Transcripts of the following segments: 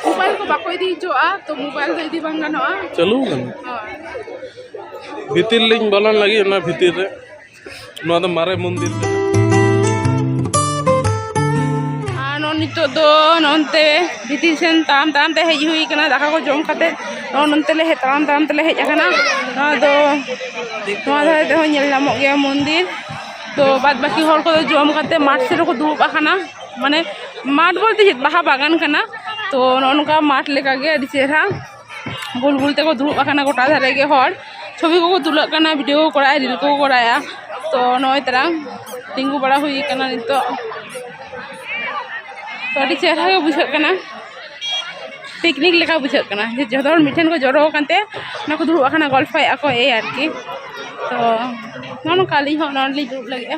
mobile ᱠᱚ ᱵᱟᱠᱚ ᱤᱫᱤ ᱦᱚᱪᱚᱣᱟᱜᱼᱟ ᱛᱚ ᱢᱳᱵᱟᱭᱤᱞ ᱫᱚ ᱤᱫᱤ ᱵᱟᱝ ᱜᱟᱱᱚᱜᱼᱟ ᱪᱟᱹᱞᱩ ᱠᱟᱱᱟ ᱦᱳᱭ ᱵᱷᱤᱛᱤᱨ ᱞᱤᱧ ᱵᱚᱞᱚᱱ ᱞᱟᱹᱜᱤᱫ ᱚᱱᱟ ᱵᱷᱤᱛᱤᱨ ᱨᱮ ᱱᱚᱣᱟ ᱫᱚ ᱢᱟᱨᱮ ᱢᱚᱱᱫᱤᱨ ᱠᱟᱱᱟ ᱟᱨ ᱱᱚᱜᱼᱚ ᱱᱤᱛᱚᱜ ᱫᱚ ᱱᱚᱱᱛᱮ ᱵᱷᱤᱛᱤᱨ ᱥᱮᱱ ᱛᱟᱲᱟᱢ ᱛᱟᱲᱟᱢ ᱛᱮ ᱦᱮᱡ ᱦᱩᱭ ᱠᱟᱱᱟ ᱫᱟᱠᱟ ᱠᱚ ᱡᱚᱢ ᱠᱟᱛᱮ ᱱᱚᱜᱼᱚ ᱱᱚᱱᱛᱮ ᱞᱮ ᱦᱮᱡ ᱛᱟᱲᱟᱢ ᱛᱟᱲᱟᱢ ᱛᱮᱞᱮ ᱦᱮᱡ ᱟᱠᱟᱱᱟ ᱱᱚᱣᱟ ᱫᱚ ᱱᱚᱣᱟ ᱫᱷᱟᱨᱮ ᱛᱮᱦᱚᱸ ᱧᱮᱞ ᱧᱟᱢᱚᱜ ᱜᱮᱭᱟ ᱢᱚᱱᱫᱤᱨ ᱛᱚ ᱵᱟᱫ ᱵᱟᱹᱠᱤ ᱦᱚᱲ ᱠᱚᱫᱚ ᱡᱚᱢ ᱠᱟᱛᱮ ᱢᱟᱴᱷ ᱥᱮᱫ ᱨᱮᱠᱚ ᱫᱩᱲᱩᱵ ᱟᱠᱟᱱᱟ ᱢᱟᱱᱮ ᱢᱟᱴᱷ ᱵᱚᱞᱛᱮ ᱪᱮᱫ ᱵᱟᱦᱟ ᱵᱟᱜᱟᱱ ᱠᱟᱱᱟ ᱛᱚ ᱱᱚᱜᱼᱚ ᱱᱚᱝᱠᱟ ᱢᱟᱴᱷ ᱞᱮᱠᱟᱜᱮ ᱟᱹᱰᱤ ᱪᱮᱦᱨᱟ ᱜᱳᱞ ᱜᱳᱞ ᱛᱮᱠᱚ ᱫᱩᱲᱩᱵ ᱟᱠᱟᱱᱟ ᱜᱳᱴᱟ ᱫᱷᱟᱨᱮ ᱜᱮ ᱦᱚᱲ ᱪᱷᱚᱵᱤ ᱠᱚᱠᱚ ᱛᱩᱞᱟᱹᱜ ᱠᱟᱱᱟ ᱵᱷᱤᱰᱭᱳ ᱠᱚ ᱠᱚᱨᱟᱣᱮᱫᱼᱟ ᱨᱤᱞ ᱠᱚᱠᱚ ᱠᱚᱨᱟᱣᱮᱫᱼᱟ ᱛᱚ ᱱᱚᱜᱼᱚᱭ ᱛᱟᱨᱟᱝ ᱛᱤᱸᱜᱩ ᱵᱟᱲᱟ ᱦᱩᱭ ᱠᱟᱱᱟ ᱱᱤᱛᱚᱜ ᱛᱚ ᱟᱹᱰᱤ ᱪᱮᱦᱨᱟ ᱜᱮ ᱵᱩᱡᱷᱟᱹᱜ ᱠᱟᱱᱟ ᱯᱤᱠᱱᱤᱠ ᱞᱮᱠᱟ ᱵᱩᱡᱷᱟᱹᱜ ᱠᱟᱱᱟ ᱡᱮ ᱡᱚᱛᱚ ᱦᱚᱲ ᱢᱤᱫ ᱴᱷᱮᱱ ᱠᱚ ᱡᱚᱨᱚ ᱟᱠᱟᱱᱛᱮ ᱚᱱᱟ ᱠᱚ ᱫᱩᱲᱩᱵ ᱟᱠᱟᱱᱟ ᱜᱚᱞᱯᱷᱚᱭᱮᱫᱼᱟ ᱠᱚ ᱮᱭ ᱟᱨᱠᱤ ᱛᱚ ᱱᱚᱜᱼᱚ ᱱᱚᱝᱠᱟ ᱟᱹᱞᱤᱧ ᱦᱚᱸ ᱱᱚᱰᱮ ᱞᱤᱧ ᱫᱩᱲᱩᱵ ᱞᱟᱹᱜᱤᱫᱼᱟ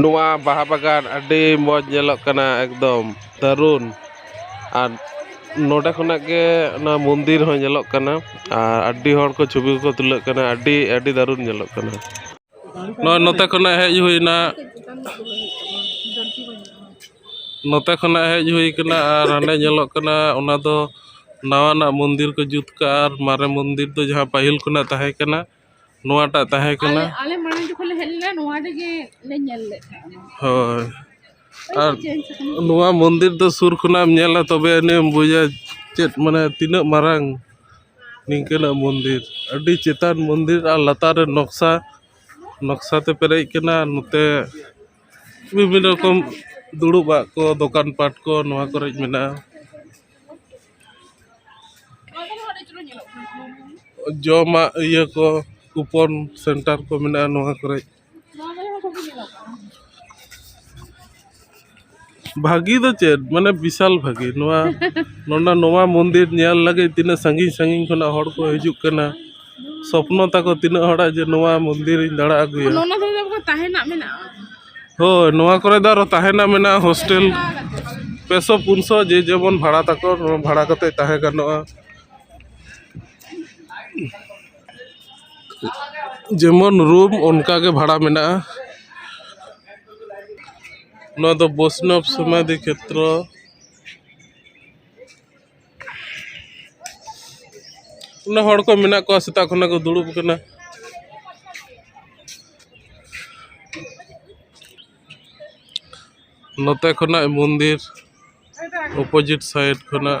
ᱱᱚᱣᱟ ᱵᱟᱦᱟ ᱵᱟᱜᱟᱱ ᱟᱹᱰᱤ ᱢᱚᱡᱽ ᱧᱮᱞᱚᱜ ᱠᱟᱱᱟ ᱮᱠᱫᱚᱢ ᱫᱟᱹᱨᱩᱱ ᱟᱨ ᱱᱚᱰᱮ ᱠᱷᱚᱱᱟᱜ ᱜᱮ ᱚᱱᱟ ᱢᱚᱱᱫᱤᱨ ᱦᱚᱸ ᱧᱮᱞᱚᱜ ᱠᱟᱱᱟ ᱟᱨ ᱟᱹᱰᱤ ᱦᱚᱲ ᱠᱚ ᱪᱷᱚᱵᱤ ᱠᱚᱠᱚ ᱛᱩᱞᱟᱹᱜ ᱠᱟᱱᱟ ᱟᱹᱰᱤ ᱟᱹᱰᱤ ᱫᱟᱹᱨᱩᱱ ᱧᱮᱞᱚᱜ ᱠᱟᱱᱟ ᱱᱚᱜᱼᱚᱸᱭ ᱱᱚᱛᱮ ᱠᱷᱚᱱᱟᱜ ᱦᱮᱡ ᱦᱩᱭᱱᱟ ᱱᱚᱛᱮ ᱠᱷᱚᱱᱟᱜ ᱦᱮᱡ ᱦᱩᱭ ᱠᱟᱱᱟ ᱟᱨ ᱦᱟᱸᱰᱮ ᱧᱮᱞᱚᱜ ᱠᱟᱱᱟ ᱚᱱᱟ ᱫᱚ ᱱᱟᱣᱟᱱᱟᱜ ᱢᱚᱱᱫᱤᱨ ᱠᱚ ᱡᱩᱛ ᱠᱟᱜᱼᱟ ᱟᱨ ᱢᱟᱨᱮ ᱢᱚᱱᱫᱤᱨ ᱫᱚ ᱡᱟᱦᱟᱸ ᱯᱟᱹᱦᱤᱞ ᱠᱷᱚᱱᱟᱜ ᱛᱟᱦᱮᱸ ᱠᱟᱱᱟ ᱱᱚᱣᱟᱴᱟᱜ ᱛᱟᱦᱮᱸ ᱠᱟᱱᱟ ᱟᱞᱮ ᱢᱟᱲᱟᱝ ᱡᱚᱠᱷᱚᱱ ᱞᱮ ᱦᱮᱡ ᱞᱮᱱᱟ ᱱᱚᱣᱟ ᱨᱮᱜᱮ ᱞᱮ ᱧᱮᱞ ᱞᱮᱫ ᱛᱟᱦᱮᱸᱫ ᱦᱳᱭ ᱟᱨ ᱱᱚᱣᱟ ᱢᱚᱱᱫᱤᱨ ᱫᱚ ᱥᱩᱨ ᱠᱷᱚᱱᱟᱜ ᱮᱢ ᱧᱮᱞᱟ ᱛᱚᱵᱮ ᱟᱹᱱᱤᱡ ᱮᱢ ᱵᱩᱡᱟ ᱪᱮᱫ ᱢᱟᱱᱮ ᱛᱤᱱᱟᱹᱜ ᱢᱟᱨᱟᱝ ᱱᱤᱝᱠᱟᱹᱱᱟᱜ ᱢᱚᱱᱫᱤᱨ ᱟᱹᱰᱤ ᱪᱮᱛᱟᱱ ᱢᱚᱱᱫᱤᱨ ᱟᱨ ᱞᱟᱛᱟᱨ ᱨᱮ ᱱᱚᱠᱥᱟ ᱱᱚᱠᱥᱟ ᱛᱮ ᱯᱮᱨᱮᱡ ᱠᱟᱱᱟ ᱱᱚᱛᱮ ᱵᱤᱵᱷᱤᱱᱱᱚ ᱨᱚᱠᱚᱢ ᱫᱩᱲᱩᱵ ᱟᱜ ᱠᱚ ᱫᱚᱠᱟᱱ ᱯᱟᱴ ᱠᱚ ᱱᱚᱣᱟ ᱠᱚᱨᱮᱜ ᱢᱮᱱᱟᱜᱼᱟ ᱡᱚᱢᱟᱜ ᱤᱭᱟᱹ ᱠᱚ ᱠᱩᱯᱚᱱ ᱥᱮᱱᱴᱟᱨ ᱠᱚ ᱢᱮᱱᱟᱜᱼᱟ ᱱᱚᱣᱟ ᱠᱚᱨᱮᱜ ᱵᱷᱟᱹᱜᱤ ᱫᱚ ᱪᱮᱫ ᱢᱟᱱᱮ ᱵᱤᱥᱟᱞ ᱵᱷᱟᱹᱜᱤ ᱱᱚᱣᱟ ᱱᱚᱰᱮ ᱱᱚᱣᱟ ᱢᱚᱱᱫᱤᱨ ᱧᱮᱞ ᱞᱟᱹᱜᱤᱫ ᱛᱤᱱᱟᱹᱜ ᱥᱟᱺᱜᱤᱧ ᱥᱟᱺᱜᱤᱧ ᱠᱷᱚᱱᱟᱜ ᱦᱚᱲ ᱠᱚ ᱦᱤᱡᱩᱜ ᱠᱟᱱᱟ ᱥᱚᱯᱱᱚ ᱛᱟᱠᱚ ᱛᱤᱱᱟᱹᱜ ᱦᱚᱲᱟᱜ ᱡᱮ ᱱᱚᱣᱟ ᱢᱚᱱᱫᱤᱨ ᱤᱧ ᱫᱟᱬᱟ ᱟᱹᱜᱩᱭᱟ ᱚᱱᱟ ᱫᱚ ᱟᱵᱚ ᱛᱟᱦᱮᱱᱟᱜ ᱢᱮᱱᱟᱜᱼᱟ ᱦᱳᱭ ᱱᱚᱣᱟ ᱠᱚᱨᱮ ᱫᱚ ᱟᱨᱚ ᱛᱟᱦᱮᱱᱟᱜ ᱢᱮᱱᱟᱜᱼᱟ ᱦᱳᱥᱴᱮᱞ ᱯᱮ ᱥᱚ ᱯᱩᱱ ᱥᱚ ᱡᱮ ᱡᱮᱢᱚᱱ ᱵᱷᱟᱲᱟ ᱛᱟᱠᱚ ᱵᱷᱟᱲᱟ ᱠᱟᱛᱮᱫ ᱛᱟᱦᱮᱸ ᱜᱟᱱᱚᱜᱼᱟ ᱡᱮᱢᱚᱱ ᱨᱩᱢ ᱚᱱᱠᱟ ᱜᱮ ᱵᱷᱟᱲᱟ ᱢᱮᱱᱟᱜᱼᱟ ᱱᱚᱣᱟ ᱫᱚ ᱵᱳᱭᱥᱱᱚᱵᱽ ᱥᱚᱢᱟᱫᱷᱤ ᱠᱷᱮᱛᱨᱚ ᱚᱱᱟ ᱦᱚᱲ ᱠᱚ ᱢᱮᱱᱟᱜ ᱠᱚᱣᱟ ᱥᱮᱛᱟᱜ ᱠᱷᱚᱱᱟᱜ ᱠᱚ ᱫᱩᱲᱩᱵ ᱠᱟᱱᱟ ᱱᱚᱛᱮ ᱠᱷᱚᱱᱟᱜ ᱢᱚᱱᱫᱤᱨ ᱚᱯᱳᱡᱤᱴ ᱥᱟᱭᱤᱰ ᱠᱷᱚᱱᱟᱜ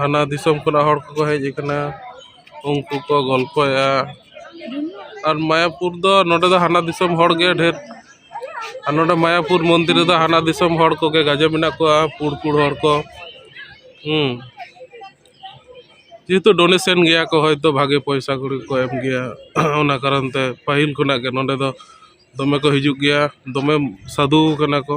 ᱦᱟᱱᱟ ᱫᱤᱥᱚᱢ ᱠᱷᱚᱱᱟᱜ ᱦᱚᱲ ᱠᱚᱠᱚ ᱦᱮᱡ ᱠᱟᱱᱟ ᱩᱱᱠᱩ ᱠᱚ ᱜᱚᱞᱯᱷᱚᱭᱟ ᱟᱨ ᱢᱟᱭᱟᱯᱩᱨ ᱫᱚ ᱱᱚᱰᱮ ᱫᱚ ᱦᱟᱱᱟ ᱫᱤᱥᱚᱢ ᱦᱚᱲ ᱜᱮ ᱰᱷᱮᱨ ᱟᱨ ᱱᱚᱰᱮ ᱢᱟᱭᱟᱯᱩᱨ ᱢᱚᱱᱫᱤᱨ ᱨᱮᱫᱚ ᱦᱟᱱᱟ ᱫᱤᱥᱚᱢ ᱦᱚᱲ ᱠᱚᱜᱮ ᱜᱟᱡᱮ ᱢᱮᱱᱟᱜ ᱠᱚᱣᱟ ᱯᱩᱬ ᱯᱩᱬ ᱦᱚᱲ ᱠᱚ ᱦᱮᱸ ᱡᱮᱦᱮᱛᱩ ᱰᱳᱱᱮᱥᱮᱱ ᱜᱮᱭᱟ ᱠᱚ ᱦᱚᱭᱛᱳ ᱵᱷᱟᱜᱮ ᱯᱚᱭᱥᱟ ᱠᱩᱲᱤ ᱠᱚ ᱮᱢ ᱜᱮᱭᱟ ᱚᱱᱟ ᱠᱟᱨᱚᱱ ᱛᱮ ᱯᱟᱹᱦᱤᱞ ᱠᱷᱚᱱᱟᱜ ᱜᱮ ᱱᱚᱰᱮ ᱫᱚ ᱫᱚᱢᱮ ᱠᱚ ᱦᱤᱡᱩᱜ ᱜᱮᱭᱟ ᱫᱚᱢᱮ ᱥᱟᱹᱫᱷᱩ ᱠᱟᱱᱟ ᱠᱚ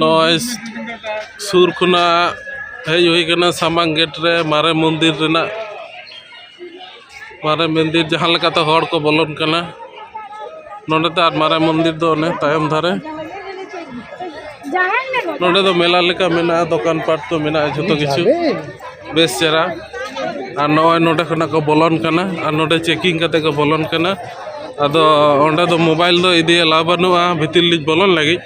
ᱱᱚᱜᱼᱚᱭ ᱥᱩᱨ ᱠᱷᱚᱱᱟᱜ ᱦᱮᱡ ᱦᱩᱭ ᱠᱟᱱᱟ ᱥᱟᱢᱟᱝ ᱜᱮᱴ ᱨᱮ ᱢᱟᱨᱮ ᱢᱚᱱᱫᱤᱨ ᱨᱮᱱᱟᱜ ᱢᱟᱨᱮ ᱢᱚᱱᱫᱤᱨ ᱡᱟᱦᱟᱸ ᱞᱮᱠᱟᱛᱮ ᱦᱚᱲ ᱠᱚ ᱵᱚᱞᱚᱱ ᱠᱟᱱᱟ ᱱᱚᱰᱮ ᱫᱚ ᱟᱨ ᱢᱟᱨᱮ ᱢᱚᱱᱫᱤᱨ ᱫᱚ ᱚᱱᱮ ᱛᱟᱭᱚᱢ ᱫᱷᱟᱨᱮ ᱱᱚᱰᱮ ᱫᱚ ᱢᱮᱞᱟ ᱞᱮᱠᱟ ᱢᱮᱱᱟᱜᱼᱟ ᱫᱚᱠᱟᱱ ᱯᱟᱴ ᱠᱚ ᱢᱮᱱᱟᱜᱼᱟ ᱡᱷᱚᱛᱚ ᱠᱤᱪᱷᱩ ᱵᱮᱥ ᱪᱮᱦᱨᱟ ᱟᱨ ᱱᱚᱜᱼᱚᱭ ᱱᱚᱰᱮ ᱠᱷᱚᱱᱟᱜ ᱠᱚ ᱵᱚᱞᱚᱱ ᱠᱟᱱᱟ ᱟᱨ ᱱᱚᱰᱮ ᱪᱮᱠᱤᱝ ᱠᱟᱛᱮ ᱠᱚ ᱵᱚᱞᱚᱱ ᱠᱟᱱᱟ ᱟᱫᱚ ᱚᱸᱰᱮ ᱫᱚ ᱢᱳᱵᱟᱭᱤᱞ ᱫᱚ ᱤᱫᱤ ᱮᱞᱟᱣ ᱵᱟᱹᱱᱩᱜᱼᱟ ᱵᱷᱤᱛᱤᱨ ᱞᱤᱧ ᱵᱚᱞᱚᱱ ᱞᱟᱹᱜᱤᱫ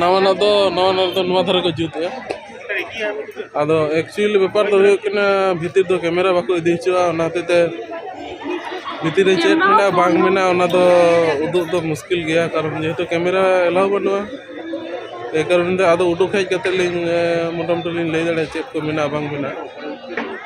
ᱱᱟᱣᱟᱱᱟᱜ ᱫᱚ ᱱᱟᱣᱟᱱᱟᱜ ᱫᱚ ᱱᱚᱣᱟ ᱫᱷᱟᱨᱮ ᱠᱚ ᱡᱩᱛᱮᱜᱼᱟ ᱟᱫᱚ ᱮᱠᱪᱩᱭᱮᱞ ᱵᱮᱯᱟᱨ ᱫᱚ ᱦᱩᱭᱩᱜ ᱠᱟᱱᱟ ᱵᱷᱤᱛᱤᱨ ᱫᱚ ᱠᱮᱢᱮᱨᱟ ᱵᱟᱠᱚ ᱤᱫᱤ ᱦᱚᱪᱚᱣᱟᱜᱼᱟ ᱚᱱᱟ ᱦᱚᱛᱮᱡ ᱛᱮ ᱵᱷᱤᱛᱤᱨ ᱨᱮ ᱪᱮᱫ ᱢᱮᱱᱟᱜᱼᱟ ᱵᱟᱝ ᱢᱮᱱᱟᱜᱼᱟ ᱚᱱᱟ ᱫᱚ ᱩᱫᱩᱜ ᱫᱚ ᱢᱩᱥᱠᱤᱞ ᱜᱮᱭᱟ ᱠᱟᱨᱚᱱ ᱡᱮᱦᱮᱛᱩ ᱠᱮᱢᱮᱨᱟ ᱮᱞᱟᱣ ᱵᱟᱹᱱᱩᱜᱼᱟ ᱮᱭ ᱠᱟᱨᱚᱱ ᱛᱮ ᱟᱫᱚ ᱩᱰᱩᱠ ᱦᱮᱡ ᱠᱟᱛᱮᱫ ᱞᱤᱧ ᱢᱚᱴᱟᱢᱩᱴᱤ ᱞᱤᱧ ᱞᱟᱹᱭ ᱫᱟᱲᱮᱭᱟᱜᱼᱟ ᱪᱮᱫ ᱠᱚ ᱢᱮᱱᱟᱜᱼᱟ ᱵᱟᱝ ᱢᱮᱱᱟᱜᱼᱟ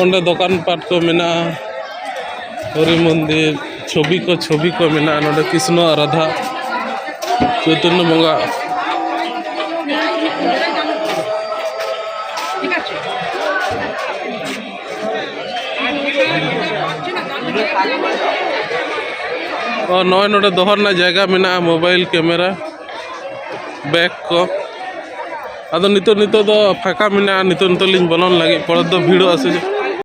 ᱚᱸᱰᱮ ᱫᱚᱠᱟᱱ ᱯᱟᱴ ᱠᱚ ᱢᱮᱱᱟᱜᱼᱟ ᱦᱚᱨᱤ ᱢᱚᱱᱫᱤᱨ ᱪᱷᱚᱵᱤ ᱠᱚ ᱪᱷᱚᱵᱤ ᱠᱚ ᱢᱮᱱᱟᱜᱼᱟ ᱱᱚᱰᱮ ᱠᱨᱤᱥᱱᱚ ᱟᱨ ᱨᱟᱫᱷᱟ ᱪᱳᱭᱛᱚᱱᱱᱚ ᱵᱚᱸᱜᱟ ᱱᱚᱜᱼᱚᱭ ᱱᱚᱰᱮ ᱫᱚᱦᱚ ᱨᱮᱱᱟᱜ ᱡᱟᱭᱜᱟ ᱢᱮᱱᱟᱜᱼᱟ ᱢᱳᱵᱟᱭᱤᱞ ᱠᱮᱢᱮᱨᱟ ᱵᱮᱜᱽ ᱠᱚ ᱟᱫᱚ ᱱᱤᱛᱚᱜ ᱱᱤᱛᱚᱜ ᱫᱚ ᱯᱷᱟᱠᱟ ᱢᱮᱱᱟᱜᱼᱟ ᱱᱤᱛᱚᱜ ᱱᱤᱛᱚᱜ ᱞᱤᱧ ᱵᱚᱞᱚᱱ ᱞᱟᱹᱜᱤᱫ ᱯᱚᱨᱮ ᱛᱮᱫᱚ ᱵᱷᱤᱲᱚᱜᱼᱟ ᱥᱮ ᱪᱮᱫ